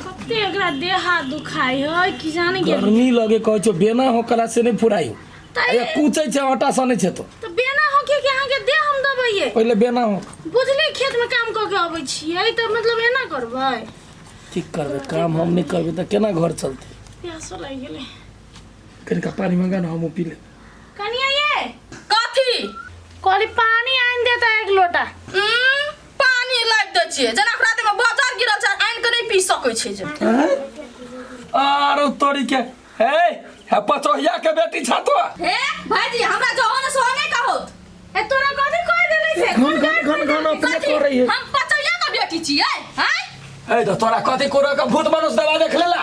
कते एकरा देह हाथ दुखाई है कि जाने के गर्मी लगे कहै छौ बेना हो कला से नहीं फुराई तऽ अरे कूचै छै आटा सनै छै तो तऽ बेना हो के अहाँ के देह हम दबैये पहिले बेना हो बुझली खेत में काम कऽ के अबै छियै तऽ मतलब एना करबै की करबे काम हम नहीं करबे त केना घर चलते प्यासो लागि गेलै कनिका पानी मंगा ना हम पी ले कनिया ये कथी कहली पानी आनि दे तऽ एक लोटा उम्म, पानी लाबि दै छियै जेना ओकरा देहमे बजर गिरल छै आनि कऽ नहि पी सकै छै जे हैं? आरो तोरी के हे हे पचोहिया के बेटी छा तो हे भाईजी हमरा जो होने सो नहीं कहो ए तोरा कथी कह देले से घन घन घन घन अपने कथी? कर रही है हम पचैया का बेटी छियै हैं ए तो तोरा कथी कोरो के भूत मनुष्य दवा देख लेला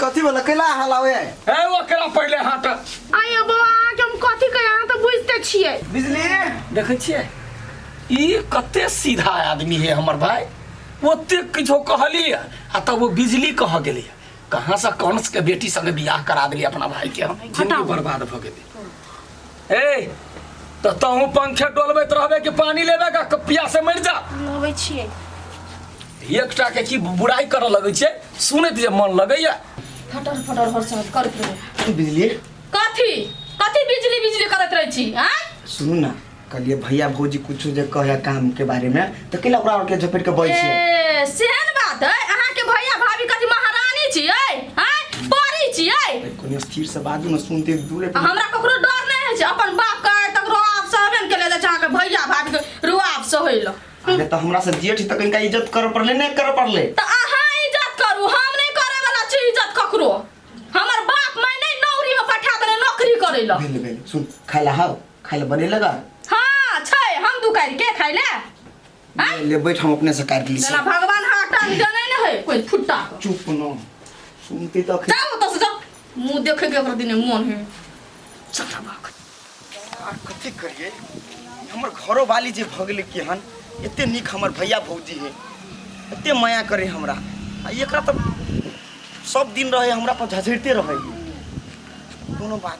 कथी बोला कैला हलावे ए ओकरा पहिले हट आय बो अहाँके हम कथी कही अहाँ तऽ बुझिते छियै बिजली देखै छियै ई कते सीधा आदमी है हमर भाई ओते किछो कहली आ तब वो बिजली कह गेली कहाँ से कंस के बेटी संगे बियाह करा देली अपना भाई के हम जिंदगी बर्बाद भ गेली ए तऽ तहूँ पंखे डोलबैत रहबे कि पानी लेबे का क- प्यासे मरि जा लबै छियै एकटा के की बुराई करऽ लगै छै सुनैत जे मन लगैया फटर फटर हर साथ करैत रहै की बुझलिए कथी कथी बिजली बिजली करैत रहै छी आँय सुनू ना कहलिए भैया भौजी कुछो जे कहे काम के बारे में तो के लकड़ा और के झपेट के बैठ छी ए, सेहन बात है अहाँ के भैया भाभी कथी महारानी छियै हैं परी छियै कोने स्थिर से बाजू न सुनते दूरे आ हमरा ककरो डर नहि होइ छै अपन बाप के आइ तक रोआब सहबेन केले जाइ छै अहाँके भैया भाभी के रोआब सहै लए अरे तो हमरा से जेठ तक इनका इज्जत कर पड़ले नहीं कर पड़ले तऽ अहाँ इज्जत करू हम नहि करै वाला छी इज्जत ककरो हमर बाप माय नहि नौकरी मे पठा देने नौकरी करै लए भेल भेल सुन खाला हाउ खाइ ले बने लगा हाँ छै हम दू काटि के खाइ ले आँय? ले बैठ हम अपने से काट ली जेना भगवान हाटा जनै ने है कोइ फुट्टा के। चुप न सुनते तो अखन- जाओ ओतऽ से जाओ मुँह देखे के ओकरा दिने मोन है चटा बाक आ, कथी करिए हमर घरो वाली जे भऽ गेलै कि हन एते नीक हमर भैया भौजी है एते माया करे हमरा आ एकरा तऽ सब दिन रहे हमरा पर झझरिते रहे कोनो बात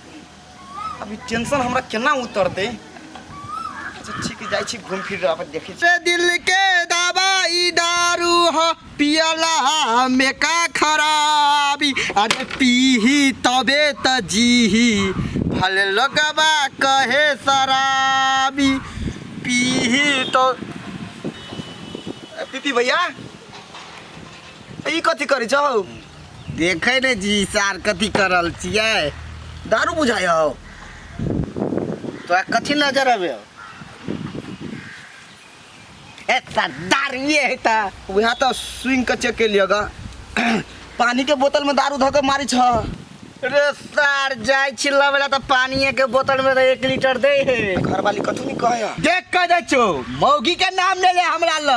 अभी टेंशन हमरा केना उतरते अच्छा ठीक जाइ छी घूम फिर रहा देखे छी दिल के दवाई दारू ह पियला में का खराबी अरे पीही तबे त जीही भले लोगवा कहे शराबी पीही तो ए, पीपी भैया ई कथी करै छौ देखे ने जी सार कथी कर रहल छियै दारू बुझाय हो तोरा कथी नजर अबे हो ए ता दारुए है ता वहाँ तो स्विंग के चेक के लिया गा पानी के बोतल में दारू धो के मारी छ रे सार जाय छी लबेला त पानिए के बोतल में त एक लीटर दे है घर वाली कथू नहीं कहे देख के दे छो मौगी के नाम ले ले हमरा ल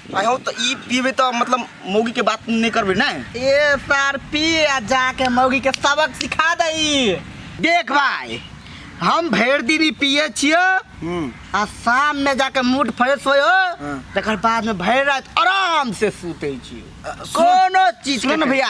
आयो तो ई पीबे तो मतलब मौगी के बात नहीं करबे ना ए सार पी आ जाके मौगी के सबक सिखा दई देख भाई हम भर दिन ई पिए छियो आ शाम में जाके मूड फ्रेश होयो हाँ। तकर बाद में भर रात आराम से सूते छियो अ, सुन- कोनो चीज सुन के ना भैया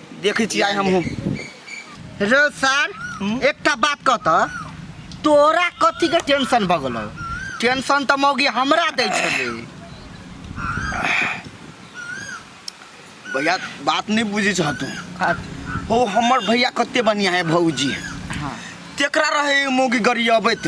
देखै छी आइ हमहूँ रे सर एकटा बात कह तऽ तोरा कथीके टेंशन भऽ गेलौ टेंशन तऽ मौगी हमरा दै छलै भैया बात नहि बुझै छह तू हो हमर भैया कते बढ़िया है भौजी तेकरा रहे मौगी गरियबैत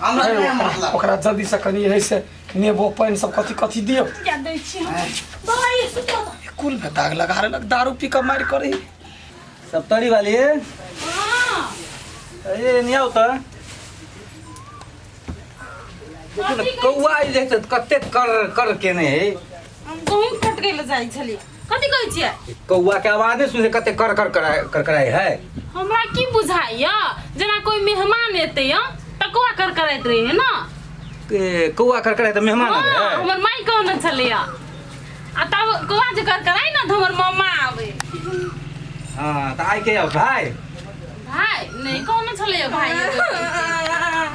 हमरा नहि हम मतलब ओकरा जल्दी से कनी है से नेबो पानि सब कथी कथी दियो क्या दै छी हम बाबा ये सुतो तो कुल में दाग लगा रहलक दारू पी के मारि करी सप्तरी वाली हां अरे नहीं आओ तो देखो ना कौआ आई देखते कते कर कर के नहीं है हम गहूम कट गेल जाइ छली कथी कहै छियै कौआ के आवाजे सुने कते कर कर कराय कर कराय है हमरा की बुझाइया जेना कोई मेहमान एते हम तऽ कौआ कर करैत रही है ना ए, कौआ कर कराय त मेहमान आबे हाँ, है हमर माई कहने छलै आ तब कौआ जे कर कराय ना तऽ हमर मामा आबे हां त आइ के आउ भाई भाय नहीं कहने छलै भाय जा।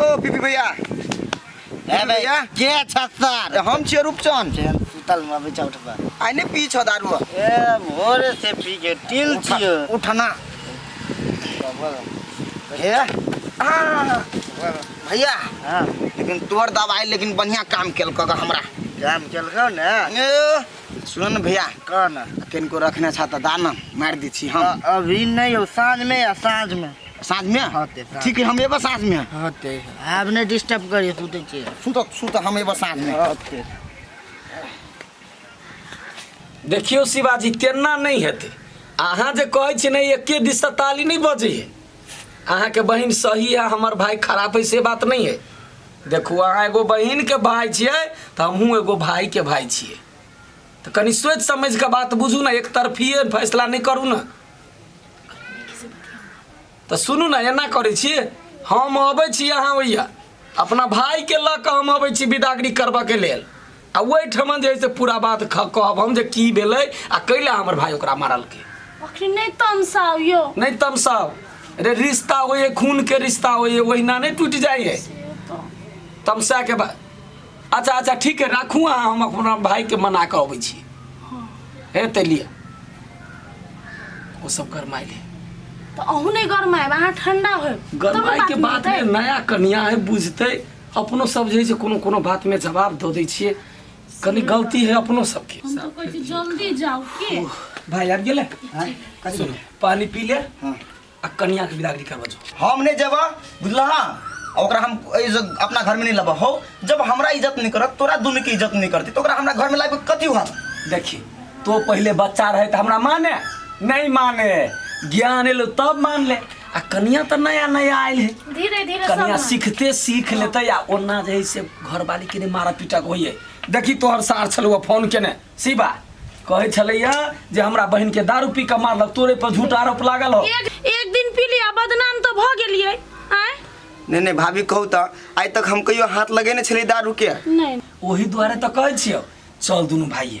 ओ पीपी भैया पीपी भैया के छत्तर हम छियै रूपचंद चल सुतल में अभी चौठ पर आइ ने पी छौ दारू ए भोरे से पी के टिल छियो उठना हे आ, भैया हां लेकिन तोर दवाई लेकिन बढ़िया काम केलक हमरा काम केलकौ ने ए, सुन ने भैया कह ने किनको रखने छह तऽ दा ने मारि दै छी हम अभी नहि यौ साँझमे या साँझमे साँझमे होतै साँझ। ठीक है हम एबऽ साँझमे होतै आब नहि डिस्टर्ब करियै सुतै छियै सुत सुत हम एबऽ साँझमे होतै देखियौ शिवाजी तेना नहि हेतै अहाँ जे कहै छी ने एके दिशा ताली नहि बजै है अहाँके बहिन सही है हमर भाय खराब है से बात नहीं है देखू अहाँ एगो बहिनके भाय छियै तऽ हमहूँ एगो भायके भाय छियै तऽ कनि सोचि समझि कऽ बात बुझू ने एक तरफिए फैसला नहि करू ने तऽ सुनू ने एना करै छी हम अबै छी अहाँ ओइया अपना भायके लऽ कऽ हम अबै छी बिदागरी करबऽके लेल आ ओहिठमन जे है से पूरा बात ख- कहब हम जे की भेलै आ कैला हमर भाय ओकरा मारलकै अखनी नहीं तमसाओ यो नहीं तमसाओ रे रिश्ता हो ये खून के रिश्ता हो ये ओहिना नहीं टूट जाए है से तो तमसा के बा अच्छा अच्छा ठीक है राखू अहाँ हम अपना भाय के मना के अबै छी हे ते लिया ओ सब गरमाइल है तो अहू नहीं गरमाएब अहाँ ठंडा होएब तब ने गरमाइ के बात बात में नया कनिया है बुझते अपनो सब जे है से कोनो कोनो बात में जवाब दो दै छियै कनी गलती है अपनो सबके हम तो कहै छी जल्दी जाओ के भाई आबि गेलै हाँ, कथी सुन भेलै? पानी पी ले हाँ। आ कनिया के बिदागरी करबा जो हम नहीं जेबा बुझला आ ओकरा हम एहि ज- अपना घर में नहीं लबा हो जब हमरा इज्जत नहीं करत तोरा दुनू के इज्जत नहीं करती तो ओकरा हमरा घर में लाबे कथी हुआ देखी तो पहले बच्चा रहे तो हमरा माने नहीं माने ज्ञान एलो तब मान ले आ कनिया तऽ नया नया आयल है धीरे धीरे सब कनिया सीखते सीख लेते आ ओना जे है से घरवाली के ने मारा पीटा के होइए देखी तोहर सार छलौ फोन केने शिवा कहै छलैया जे हमरा बहन के दारू पी के मारलक तोरे पर झूठ आरोप लागल हो एक एक दिन पी लिया बदनाम तो भ गेलिए आय नहीं नहीं भाभी कहू तो आइ तक हम कहियो हाथ लगेने छली दारू के नहीं ओही दुआरे तऽ कहै छियौ चल दुनू भाइये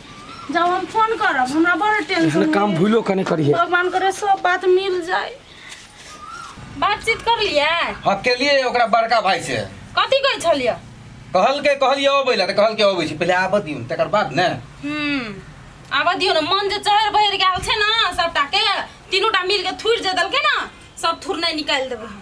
जब हम फोन करब हमरा बड़ टेंशन एहन काम होइए। भूलो कने करिए भगवान करे सब बात मिल जाए बातचीत कर लिया अकेलिए ओकरा बड़का भाई से कथी कहै छलियै कहल के कहलिए अबै ला तऽ कहल के अबै छी पहिले आबऽ दियौन तकर बाद ने हम्म आबऽ दियौ ने मन जे चहर बहर गेल छै ने सबटा के तीनू टा मिल के थुरि जे देलकै ने सब थुरनाइ निकालि देबै हम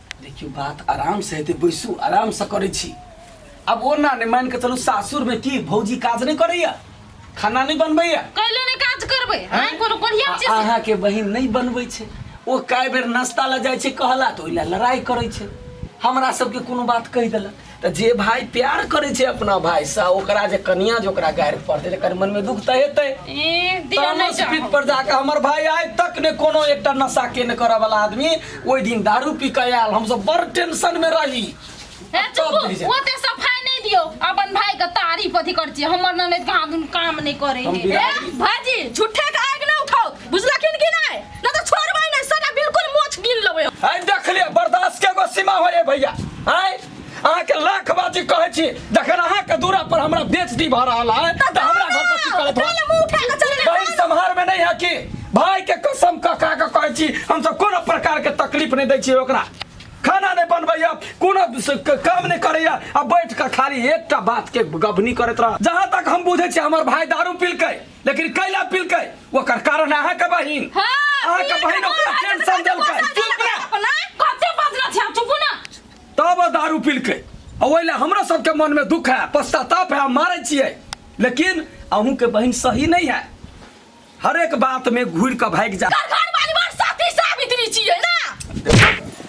देखियौ बात आरामसँ हेतै बैसू आरामसँ करै छी आब ओना नहि मानि कऽ चलू सासुरमे की भौजी काज नहि करैया खाना नहि बनबैया कैलो ने काज करबै हां कोनो बढ़िया चीज अहाँ के बहिन नहीं बनबै छै ओ कई बेर नाश्ता ल जाय छै कहला तो ओइला लड़ाई करै छै हमरा सबके कोनो बात कहि देलक तऽ जे भाय प्यार करै छै अपना भाय से ओकरा जे कनिया जे ओकरा गारि पड़तै तकर मन में दुख तऽ हेतै ई दिया तामस नहि जाओ। पीठ पर जाके हमर भाय आइ तक ने कोनो एकटा नशा के ने करऽ वाला आदमी ओहि दिन दारू पी के आयल हमसब बड़ टेंशन में रही हे तब चुप बुझि जाएब। ओते सफाई नहीं दियो अपन भाई के तारीफ अथी कर छी हमर ननद के हाथ उन काम नहीं करे हम हे बिरादरी- भाजी झूठे के आग ना उठाओ बुझलखिन कि नहीं ना तो छोड़बै नहीं सटा बिल्कुल मोछ गिन लेबै हम। आइ देख ले बर्दाश्त के एगो सीमा हो रे भैया आइ अहाँके लाख बाजी कहै छी जखन अहाँके दूरा पर हमरा बेइज्जती भऽ रहल है तऽ हमरा घर पर की करत काल्हि मुँह उठा कऽ चलि गेल। बहिन सम्हार में नहीं है कि भाई के कसम कऽ कऽ के कहै छी हम सब कोनो प्रकार के तकलीफ नहीं दै छी ओकरा खाना नहीं बनबैया कोनो स- क- काम नहीं करैया आ बैठ कऽ खाली एकटा बात के गबनी करैत रह जहाँ तक हम बुझै छी हमर भाई दारू पीलकै लेकिन कैला पिलकै ओकर कारण अहाँ के बहिन हाँ, अहाँ के पिए बहिन के ओकरा बाद टेंशन कते देलकै बदला चुप रह अपना कते बदला छै चुप ना तब ओ दारू पिलकै आ ओहि लए हमरा सबके मन में दुख है पश्चाताप है हम मारै छियै लेकिन अहूँ के बहिन सही नहीं है हरेक बात में घूर के भागि जा कर घर परिवार साथी सावित्री छियै ना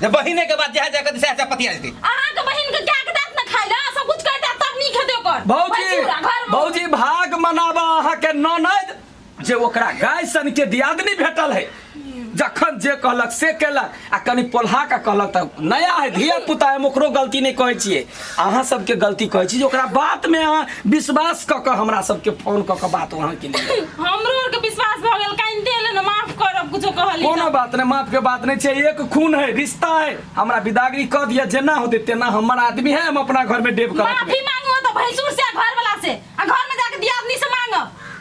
जे बहिने के बात जहाँ जाके तो सह सह पतिया जेतै अहाँ के बहिन के क्या के दांत न खाई ना सब कुछ कर दांत तक नहीं खेदे ओकर भौजी बैठी रहा घर में। भौजी भाग मनाबा अहाँके ननद जे ओकरा गाय सन के दियादनी भेटल है जखन जे कहलक से केलक आ कनि पोल्हा के कहलक तऽ नया है धिया पुता है हम ओकरो गलती नहि कहै छियै अहाँ सबके गलती कहै छी जे ओकरा बात में अहाँ विश्वास क के हमरा सबके फोन क के बात अहाँ के लिए हमरो आर के विश्वास भ गेल काहे दे ले न माफ करब कुछो कहली कोनो बात नहीं माफ के बात नहीं चाहिए एक खून है रिश्ता है हमरा विदागरी कह दिया जेना होते तेना हमर आदमी है हम अपना घर में डेब करत माफी मांगो तो भैंसुर से आ घर वाला से आ घर में जाके दियादनी से मांगो